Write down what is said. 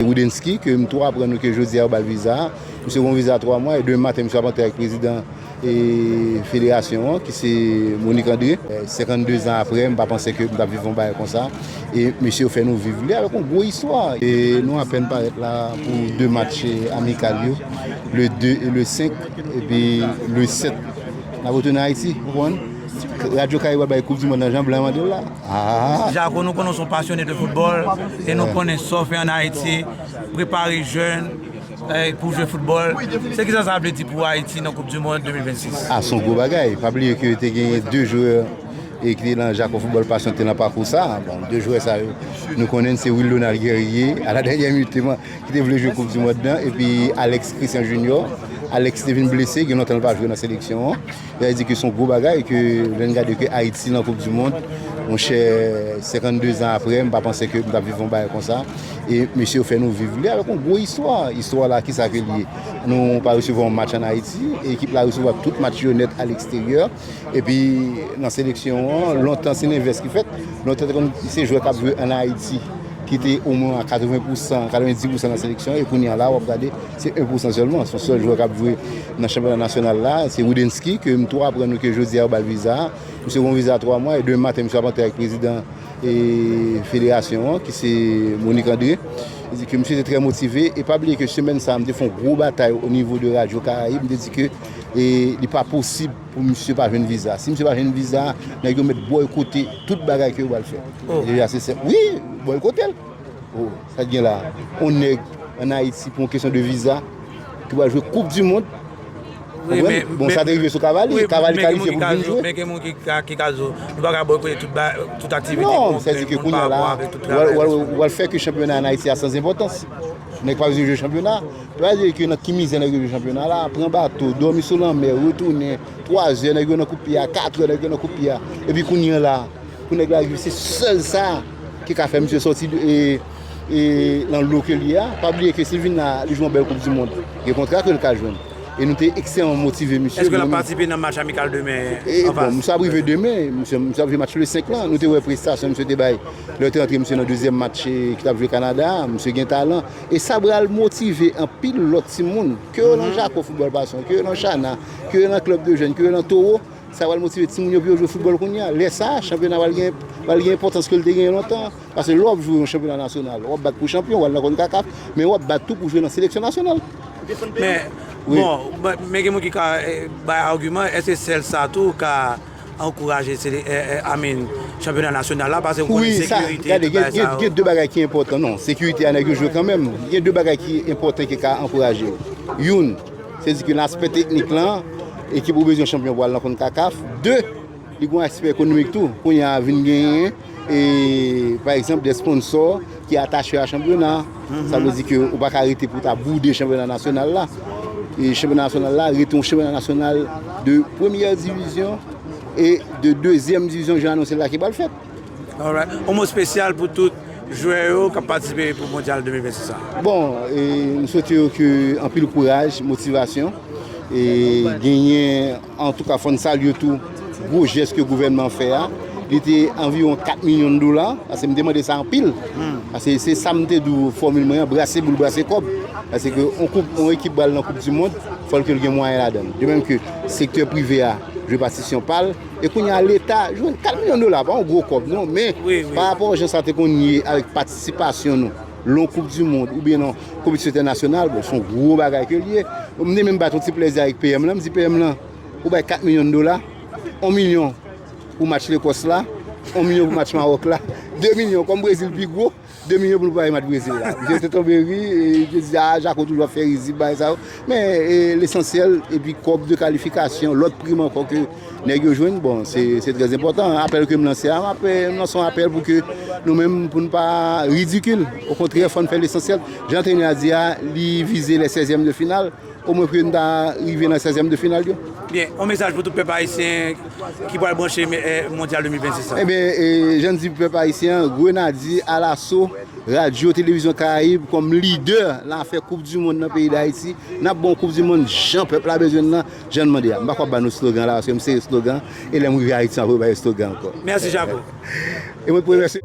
Roudensky ke m tou aprann nou ke jodi a yo bal viza a. Misye gon viza 3 mwa e demen maten misye ap antre ak prezidan federasyon an ki se Monique André. 52 zan apre m pa panse ke m tap viv yon bagay konsa e mesye yo fè nou viv li avèk yon gwo istwa. Nou apèn parèt la pou 2 match amikal yo le 2 e le 5 epi le 7 nap retounen Ayiti ou konprann. Radyo Karibwa bay koup di mond nan jan blan mandel la aa. Jako nou konnen w son pasyone de foutbòl e nou konnen sa w fè an Ayiti, prepare jèn pou jwe foutbòl, se kisa sa vle di pou Ayiti nan koup di mond 2026? A son gwo bagay, pa bliye ke te genyen 2 jwè e ki te nan jako foutbòl pasyon ki te nan pakou sa, bon 2 jwè sa yo nou konnen se Wilonald Guerrier a la dènyè minit te man ki te vle jwe koup di mond nan epi Alex Christian Junior, Alex te vin blese gen lontan l pa jwe nan seleksyon an. Sa vle di ke son gwo bagay ke lèn gade ke Ayiti nan koup di mond monchè 52 zan aprè m pa panse ke m tap viv yon bagay konsa e mesye yo fè nou viv li avèk yon gwo istwa, istwa la kisa ke li ye nou pa resevwa yon match an Ayiti ekip la resevwa tout match yo nèt a leksteryè epi nan seleksyon an lontan se lenvès ki fèt lontan te konn se jwè kap jwe an Ayiti ki te omwen a 80 pousan 90 pousan nan seleksyon e kounye a la wap gade se 1 pousan sèlman son sèl jwè kap jwe. Nan chanpyona nasyonal la, se Rudensky ke m tou aprann nou ke jodi a yo ba l viza a. Misye gon viza 3 mwa e demen maten misye ap antre avèk prezidan federasyon an ki se Monique André. Li di ke misye te trè motive e pa bliye ke semèn sa a m te fè yon gwo batay o nivo de radyo Karayib, m te di ke li pa posib pou misye pa jwenn viza a. Si misye pa jwenn viza a, nèg yo mèt bòykote tout bagay ke yo ba l fè. Deja se sèten. Wi! Bòykote l. Sa gen la, on nèg an Ayiti pou on kesyon de viza ki pral jwe koup di mond, konprann? Bon sa te rive sou Cavali, Cavali kalifye pou l vin jwe. Men gen moun ki ka di w, nou pa ka boykote tout aktivite pou on grenn moun pa bon avèk tout travay yo. Non, w al fè ke chanpyona an Ayiti a san zenpòtans. Nèg pa bezwen jwe chanpyona. Pou yo al di ke nan ki mizè nèg yo jwe chanpyona la, pran bato, dòmi sou lanmè, retounen, twazè nèg yo nan kout pye a, katrè nèg yo nan kout pye a. Epi kounye an la, pou nèg la rive se sèl sa. Ki ka fè misye sòti nan lo ke l ye a. Pa bliye ke si l vin la, li jwe yon bèl koup di mond, gen kontra ke l ka jwenn. E nou te ekstrèman motive misye. Eske l ap patisipe nan match amikal demen an fas? Misye ap rive demen. Misye ap jwe match le 5 lan. Nou te wè prestasyon misye te bay lè yo te rantre misye nan dezyèm match ki t ap jwe Kanada a. Misye gen talan. E sa pral motive anpil lòt timoun. Ke yo nan jako foutbòl pasyon, ke yo nan chana, ke yo nan klèb de jèn, ke yo nan towo. Sa pral motive timoun yo pou yo jwe foutbòl kounye a. Lè sa a, chanpyona a pral gen enpòtans ke l te genyen lontan. Pase lè w ap jwe yon chanpyona nasyonal, w ap bat pou chanpyon, w al nan Concacaf, men w ap bat tou pou jwe nan seleksyon nasyonal. Men gen moun ki ka bay agiman, èske sèl sa tou ka ankouraje chanpyona nasyonal la? Pase ou konnen sekirite ak tout bagay sa yo. Gen de bagay ki enpòtan. Non, sekirite a nèg yo jwe kanmenm. Gen de bagay ki enpòtan ki ka ankouraje yo. Youn. Se di ke nan aspè teknik lan, ekip ou bezwen chanpyon pou al nan Concacaf. 2, li gen yon aspè ekonomik tou. Kounye a vin genyen, pa egzanp, de sponsò ki atache a chanpyona. Sa vle di ke ou pa ka rete pou ta boude chanpyona nasyonal la. E chanpyona nasyonal la rete yon chanpyona nasyonal de premyè divizyon e de dezyèm divizyon jan anonse la ki pral fèt. Alright, on mo spesyal pou tout jwè yo kap patisipe pou mondyal 2026 sa? Bon, m swete yo ke anpil kouraj, motivasyon, e genyen, antouka fòn salye tou gwo jès ke gouvènman an fè a, li te anviwon 4 milyon dola, pase m te mande sa anpil, pase se sa m te di w fòmil mwen an, brase boul, brase kòb, pase ke on koup, on ekip bal nan koup di mond, fòl ke l gen mwayen ladan l, de menm ke sektè prive a jwe patisyon pa l. E kounye a leta jwenn 4 milyon dola, pa yon gwo kòb non, men parapò jan sa te konn ye avèk patisipasyon nou lon koup di mond oubyen lon konpetisyon entènasyonal, bon son gwo bagay ke l ye. M te menm bat yon ti plèzi avèk PM lan, m di PM lan ou bay 4 milyon dola, 1 milyon pou match Lekòs la, 1 milyon pou match Mawòk la, 2 milyon kòm Brezil pi gwo. 2 milyon pou nou pale mat brezil la. Misye te tonbe ri, li te di a jako toujou ap fè rizib bagay sa yo. Men lesansyèl epi kòb de kalifikasyon, lòt prim ankò ke nèg yo jwenn bon se trè enpòtan. Apèl ke m lanse a, m lanse yon apèl pou ke nou menm pou nou pa ridikil. Okontrè fò nou fè lesansyèl. Jan antrenè a di a, li vize lè sèzyèm de final. O mwen pou yo ta rive nan 16 tièm de final yo. Byen, on mesaj pou tout pèp ayisyen ki pral branche mondyal 2026 la. Ebyen, jan di pou pèp ayisyen an, Grenadye alaso, Radyo Televizyon Karayib kòm lidè lafè koup di mond nan peyi Dayiti, nap bon koup di mond jan pèp la bezwen l lan, jan n mande a. M pa kwap ba nou slogan la paske m sere slogan e lè m rive Ayiti m ap rebayo slogan ankò. Mèsi Jako. E mwen pou remèsye.